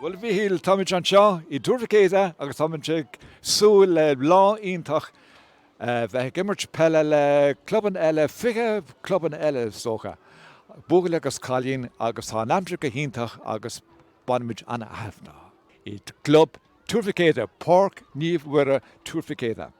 Bhuel, a Mhíchíl, táimid anseo i dTuar Mhic Éadaigh agus táimid ag súil le lá iontach a bheith ag imirt peile le clubanna eile, 20 clubanna eile is dócha, buachaillí agus cailíní agus tá an aimsir go hiontach agus bainfimid an-taitneamh i gClub Tuar Mhic Éadaigh, Páirc Naomh Mhuire, Tuar Mhic Éadaigh.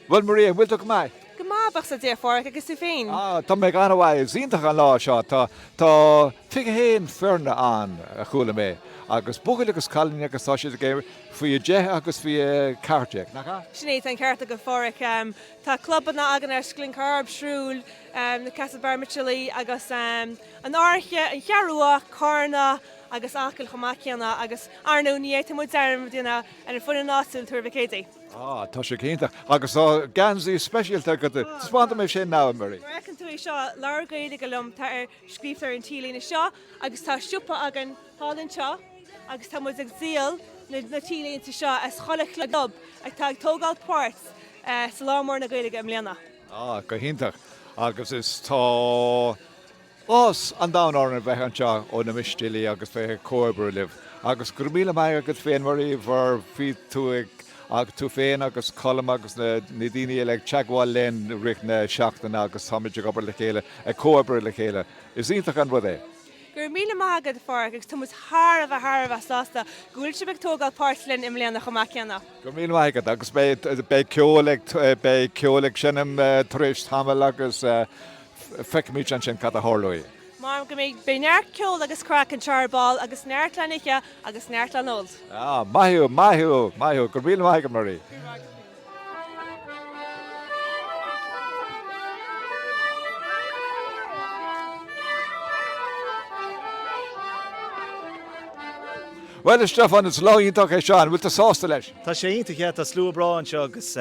Bhuel Marie, bhfuil tú go maith? Go maith, buíochas le Dia, a Phádraig, agus tú féin? Ah, tá mé go han-mhaith, is iontach an lá seo, tá, tá 21 foirne ann a chuala mé, agus buachaillí agus cailíní agus tá siad ag imirt faoi 10 agus faoi 14, nach ea? Sin é, tá an ceart agat Pádhraic, tá clubanna againn as Glencorrib, Shrule, na Castlebar Michelí agus an Fhairche, an Cheathrú Rua, Carna agus Acaill chomh maith céanna agus arnú ní fhéadfaidh muid dearmad a dhéanamh ar an foireann áitiúil Tuar Mhic Éadaigh. Ah, tá sé go hiontach. Agus tá geansaí speisialta agat. Taispeánfaidh mé sin now, Marie. Mar a fheiceann tú é seo, labhair Gaeilge liom, tá ar scríofa ar an T-léine seo agus tá siopa againn thall anseo agus tá muid ag díol na na T-léinte seo as chuile chlub atá ag tógáil páirt sa Lá Mór na Gaeilge i mbliana. Ah, go hiontach. Agus is tá Áthas an domhain orainn a bheith anseo ó na Mistéalaigh agus bheith ag comhoibriú libh. Agus go raibh míle maith agat féin Marie mar bhí tú ag agus tú féin agus Colm agus na na daoine eile ag teagmháil linn i rith na seachtaine agus táimid ag obair le chéile, ag comhoibriú le chéile. Is iontach an rud é. Go raibh míle maith agat Páraic agus tá muid thar a bheith thar a bheith sásta go bhfuil sibh ag tógáil páirt linn i mbliana chomh maith céanna. Go raibh míle maith agat agus beidh beidh ceol ag beidh ceol ag seinm tar éis tamaill agus Feicfimid ansin cad a tharlóidh. Mar go mbeidh beidh neart ceol agus craic anseo ar ball agus neart le n-ithe agus neart le n-ól. Ah, maith thú, maith thú, maith thú. Go raibh míle maith agat, Marie. Míle maith agat. Bhuel, Stiofán, is lá iontach é seo. An bhfuil tú sásta leis? Tá sé iontach, yeah. Tá slua breá anseo agus.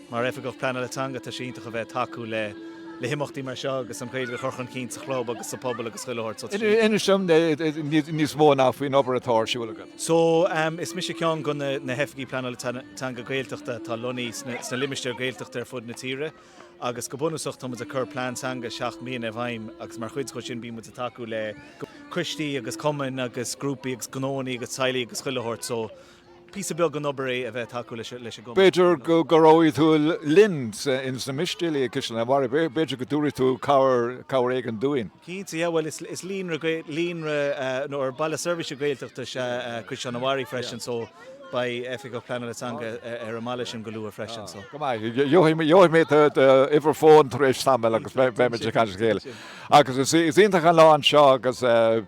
Mar Oifigeach Pleanála Teanga, tá sé iontach a bheith ag tacú le le himeachtaí mar seo agus an Ghaeilge a chur chun cinn sa chlub agus sa phobal agus chuile shórt. So tá sé. Inis dom níos mó now faoin obair atá ar siúl agat. So, is mise ceann de na na hOifigigh Pleanála Teanga Gaeltachta atá lonnaithe sna sna limistéir Gaeltachta ar fud na tíre agus go bunúsach tá muid ag cur plean teanga seacht mbliana i bhfeidhm agus mar chuid dhó sin bíonn muid ag tacú le coistí agus cumainn agus grúpaí agus gnóannaí agus teaghlaigh agus chuile shórt. So, Píosa beag den obair é a bheith tacú leis an gcumas. B'fhéidir go gcabhróidh tú linn ins na Mistéalaigh i gCaisleán an Bharraigh, b'fhéidir go dtabharfaidh tú cabhair éigin dúinn. Cinnte, yeah, bhuel is líonra Gael, líonra, nó baile seirbhíse Gaeltachta is ea Caisleán an Bharraigh freisin, so beidh Oifigeach Pleanála Teanga ar an mbaile sin go luath freisin, so. Go maith, gheobhaidh, gheobhaidh mé d'uimhir fóin tar éis tamaill agus beimid ag caint le chéile. Agus is iontach an lá anseo agus.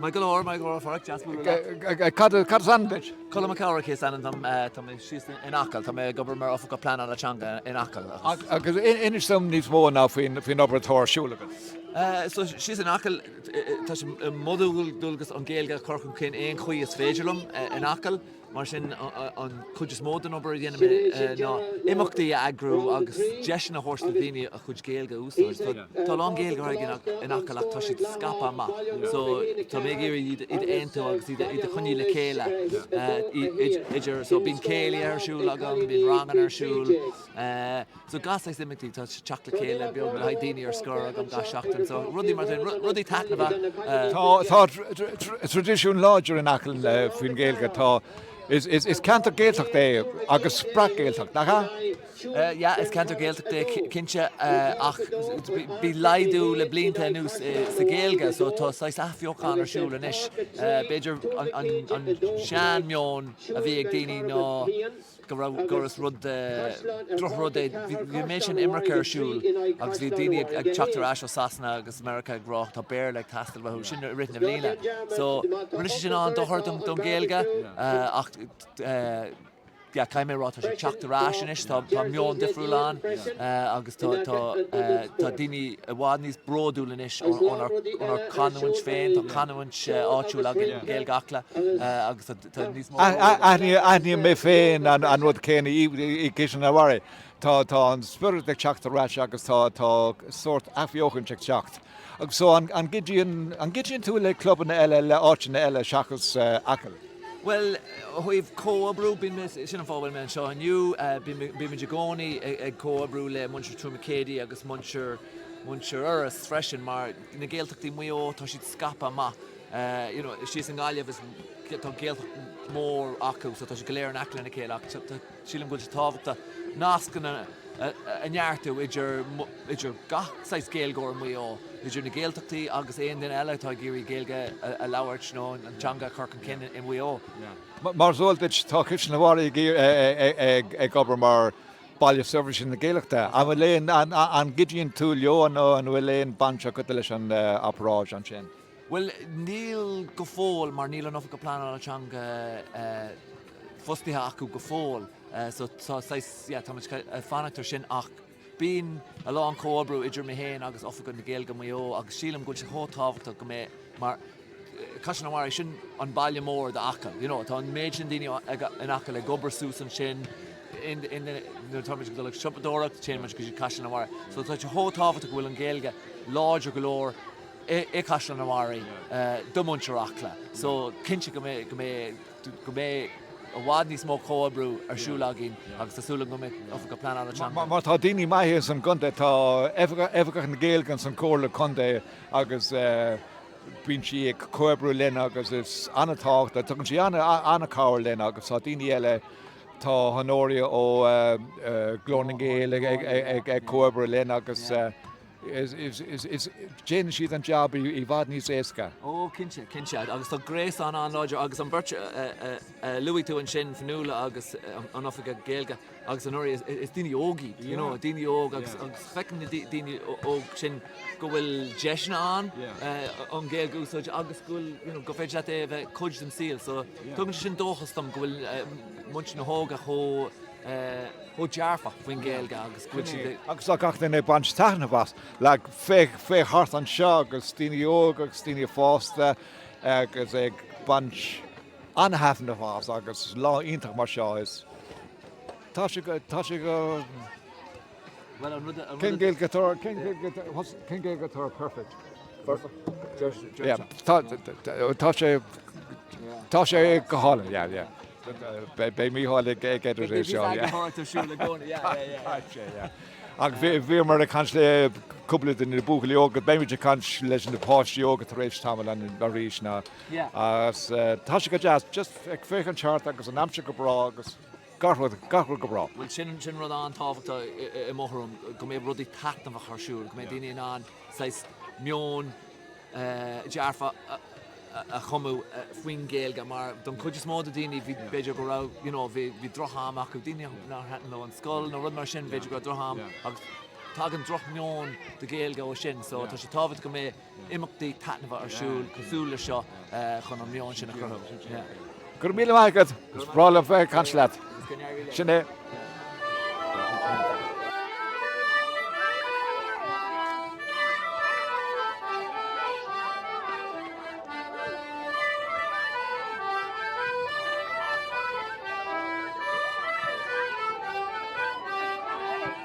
Maith go leor, maith go leor Fork, deas bualadh leat. Cad is ainm duit? Colm Mac Eachmharcaigh is ainm dom, tá mé síos in Acaill, tá mé ag obair mar Oifigeach Pleanála Teanga in Acaill agus. Agus inis dom níos mó ná faoin obair atá ar siúl agat. So síos in Acaill, tá sé mo dhual dualgas an Ghaeilge a chur chun cinn aon chaoi is féidir liom in Acaill. Mar sin, an chuid is mó den obair a dhéanaim ná imeachtaí a eagrú agus deiseanna a thabhairt do dhaoine a gcuid Gaeilge a úsáid. Tá a lán Gaeilgeoirí in Acaill ach tá siad scaipthe amach so tá mé ag iarraidh iad a aontú agus iad a choinneáil le chéile idir, so bíonn céilí ar siúl agam, bíonn ranganna ar siúl, So gach saghas imeachtaí, tá teacht le chéile beag le haghaidh daoine ar scor agam gach seachtain, so rudaí mar sin, rudaí taitneamhacha. Tá traidisiún láidir in Acaill faoin Ghaeilge, tá is ceantar Gaeltachta é agus is breac-Ghaeltacht, nach ea? Yeah, is ceantar Gaeltachta é cinnte ach bhí laghdú le blianta anuas sa Ghaeilge, so tá saghas athbheochan ar siúl anois. B'fhéidir an sean-meon a bhí ag daoine ná, go raibh gur is rud droch-rud é, bhí an méid sin imirce ar siúl agus bhí daoine ag teacht ar ais ó Sasana agus America ag rá tá Béarla ag teastáil uait, sin i rith na bliana. So rinne sé sin an-dochar don don Ghaeilge ach yeah caithfidh mé rá tá sé ag teacht ar ais anois, tá tá meon difriúil ann agus tá tá tá daoine i bhfad níos bródúil anois ónár ónár canúint féin, tá canúint áitiúil againn, Gaeilge Acla, agus Aithníonn mé féin an rud céanna i gCaisleán an Bharraigh. Tá an spiorad ag teacht ar ais agus tá sórt athbheochaint ag teacht. So an gcuidíonn tú le clubanna eile, le áiteanna eile seachas Acaill? Bhuel, ó thaobh comhoibriú, bíonn mé, sin an fáth a bhfuil mé anseo inniu, bímid i gcónaí ag comhoibriú le muintir Thuar Mhic Éadaigh agus muintir Iorras freisin mar na Gaeltachtaí Mhaigh Eo, tá siad scaipthe amach. you know síos i nGaillimh is tá Gaeltacht mór acu so tá sé go léir in aice lena chéile ach sílim go bhfuil tábhachtach nascanna a neartú idir idir gach saghas Gaeilgeoir i Maigh Eo idir na Gaeltachtaí agus aon duine eile atá ag iarraidh Gaeilge a labhairt nó an teanga a chur chun cinn i Maigh Eo. Mar is eol duit tá Caisleán an Bharraigh ag obair mar baile seirbhíse na Gaeltachta. An bhfuil aon an gcuidíonn tú leo nó an bhfuil aon baint agat leis an obráid ansin? Bhuel, níl go fóill, mar níl an tOifigeach Pleanála Teanga fostaithe acu go fóill, so tá saghas, yeah, tá muid ag fanacht air sin ach bíonn a lán comhoibriú idir mé féin agus Oifigeach na Gaeilge Mhaigh Eo agus sílim go bhfuil sé chomh tábhachtach go mbeidh, mar Caisleán an Bharraigh, sin an baile mór d'Acaill, you know, tá an méid sin daoine in Acaill ag obair suas ansin, nuair atá muid ag dul ag siopadóireacht, téann muid go dtí Caisleán an Bharraigh, so tá sé chomh tábhachtach go bhfuil an Ghaeilge láidir go leor i gCaisleán an Bharraigh do mhuintir Acla. So cinnte go mbeidh go mbeidh i bhfad níos mó comhoibriú ar siúl againn agus tá súil agam go mbeidh Oifigeach Pleanála Teanga, mar tá daoine maithe ins an gcontae tá Oifigeach na Gaeilge ins an Comhairle Contae agus bíonn sí ag comhoibriú linn agus is an-tábhachtach, tugann sí an-chabhair linn agus tá daoine eile, tá Honoria ó Ghlór na nGael ag comhoibriú linn agus. déanann siad an jab i bhfad níos éasca. Ó, cinnte, cinnte, agus tá gréasán an-láidir agus an bheirt a luaigh tú ansin, Fionnuala agus an Oifigeach Gaeilge agus Honoria, is daoine óg iad, you know, daoine óg agus feicim na daoine óg sin go bhfuil deiseanna ann an Ghaeilge a úsáid agus go bhfuil, you know, gur féidir leat é a bheith cuid de do shaol. So tugann sé sin dóchas dom go bhfuil muintir na hóga chomh. chomh dearfach faoin Ghaeilge agus go bhfuil siad ag. agus tá gach duine ag baint taitneamh as. Le féachaint thart anseo agus daoine óga agus daoine fásta agus ag baint an-taitneamh as agus lá iontach mar seo. Tá sé go. Cén Gaeilge atá perfect? Tá sé go hálainn. Beidh Mícheál ag edited é seo. Beidh Mícheál ag edited é seo. Tá sé, yeah. Ach bhíomar ag caint le cúpla de na buachaillí óga, beimid ag caint leis na páistí óga tar éis tamaill arís ná. Tá sé go deas, just ag féachaint thart agus an aimsir go breá agus. Go bhfuil, go bhfuil go breá. Bhuel, sin, sin rud an-tábhachtach i mo thuairim, go mbeadh rudaí taitneamhach ar siúl, go mbeadh daoine in ann, saghas, meon dearfach a chumadh faoin Ghaeilge, mar don chuid is mó de daoine, bhí, b'fhéidir go raibh, you know, bhí, bhí droch-am acu, daoine nár thaitin leo an scoil nó rud mar sin, b'fhéidir go raibh droch-am, agus tagann droch-meon de Ghaeilge ó sin, so, tá sé tábhachtach go mbeadh, imeachtaí taitneamhacha ar siúl cosúil le seo chun an meon sin a chruthú. Go raibh míle maith agat, is breá liom bheith ag caint leat. Sin é. Thank you.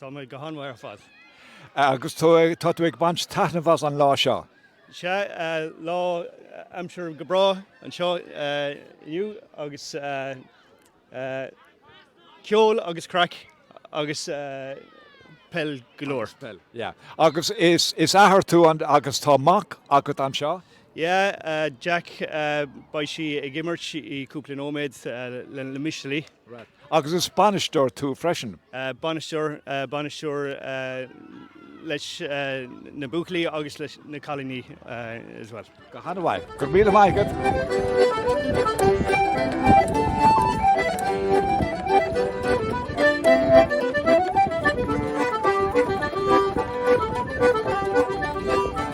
Tá mé go han-mhaith ar fad. Agus tú, tá tú ag baint taitneamh as an lá seo? Sea, lá aimsir go breá anseo inniu agus ceol agus craic agus peil go leor. Agus peil, yeah. Agus is athair tú agus tá mac agat anseo? Yeah, Jack, beidh sé ag imirt i cúpla nóiméad le Mistéalaigh. Right. Agus is bainisteoir tú freisin? Bainisteoir, bainisteoir leis na buachaillí agus leis na cailíní as well. Go han-mhaith. Go raibh míle maith agat.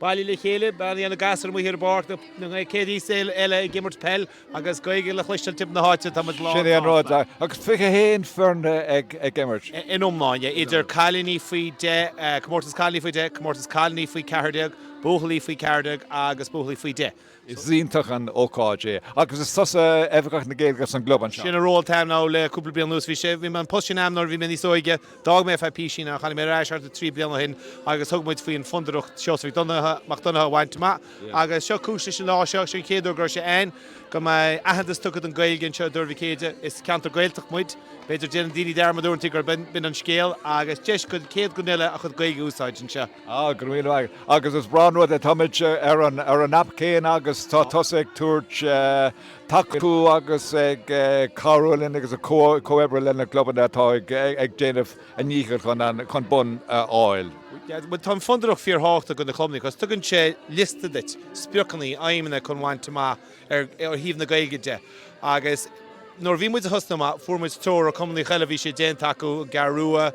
Bailithe le chéile, beidh na gasúir amuigh ar an bpáirc, na céadtaí is eile ag imirt peil agus Gaeilge le chloisteáil timpeall na háite, tá muid lánsásta. Sin é an rud, agus 21 foirne ag imirt. in iomláine, idir cailíní faoi deich, comórtas cailíní faoi deich, comórtas cailíní faoi 14, buachaillí faoi 14 agus buachaillí faoi deich. Is iontach an ócáid é agus is tusa Oifigeach na Gaeilge san gclub anseo. Sin an ról atá a'm now le cúpla bliain anuas. Bhí sé, bhí mé an post sin a'm nuair a bhí mé níos óige. D'fhág mé ar feadh písín ach tháinig mé ar ais thart ar trí bliana ó shin agus thug muid faoin Fondúireacht Seosamh Mac Donnacha a bhaint amach agus seo cúis leis an lá seo. Sin an chéad uair go raibh sé ann go mbeidh aitheantas tugtha don Ghaeilge anseo i dTuar Mhic Éadaigh. Is ceantar Gaeltacht muid. B'fhéidir déanann daoine dearmad uaireanta gurb in an scéal agus deis do chaon duine a chuid Gaeilge a úsáid anseo. Ah, go raibh míle maith agat. Agus is breá an rud é, táimid ar an aip céanna agus tá tusa ag tabhairt tacú agus ag cabhrú linn agus ag comhoibriú leis na clubanna atá ag déanamh a ndíchill chun bonn a fháil. Bhuel, tá an Fondúireacht fíor-thábhachtach do na clubanna cos tugann sé liosta duit, spriocanna, aidhmeanna chun bhaint amach ar thaobh na Gaeilge de agus nuair a bhí muid ag tosnú amach fuair muid treoir ó cumannachaí eile a bhí sé déanta acu i gCeathrú Rua,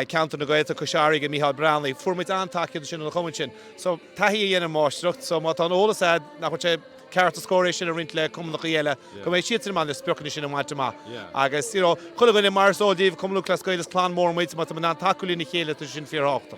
ceantar na Gaeltachta, Cois Fharraige, Micheál Breathnach. Fuair muid an-tacaíocht ansin ó na cumainn sin. So taithí a dhéanann máistreacht. So má tá an eolas a'd nach bhfuil sé ceart is cóir é sin a roinnt le cumannachaí eile go mbeidh siadsan in ann na spriocanna sin a bhaint amach. Agus you know, chuile dhuine mar is eol daoibh Cumann Lúthchleas Gael is clann mór muid, má tá muid in ann tacú lena chéile tá sé sin fíorthábhachtach.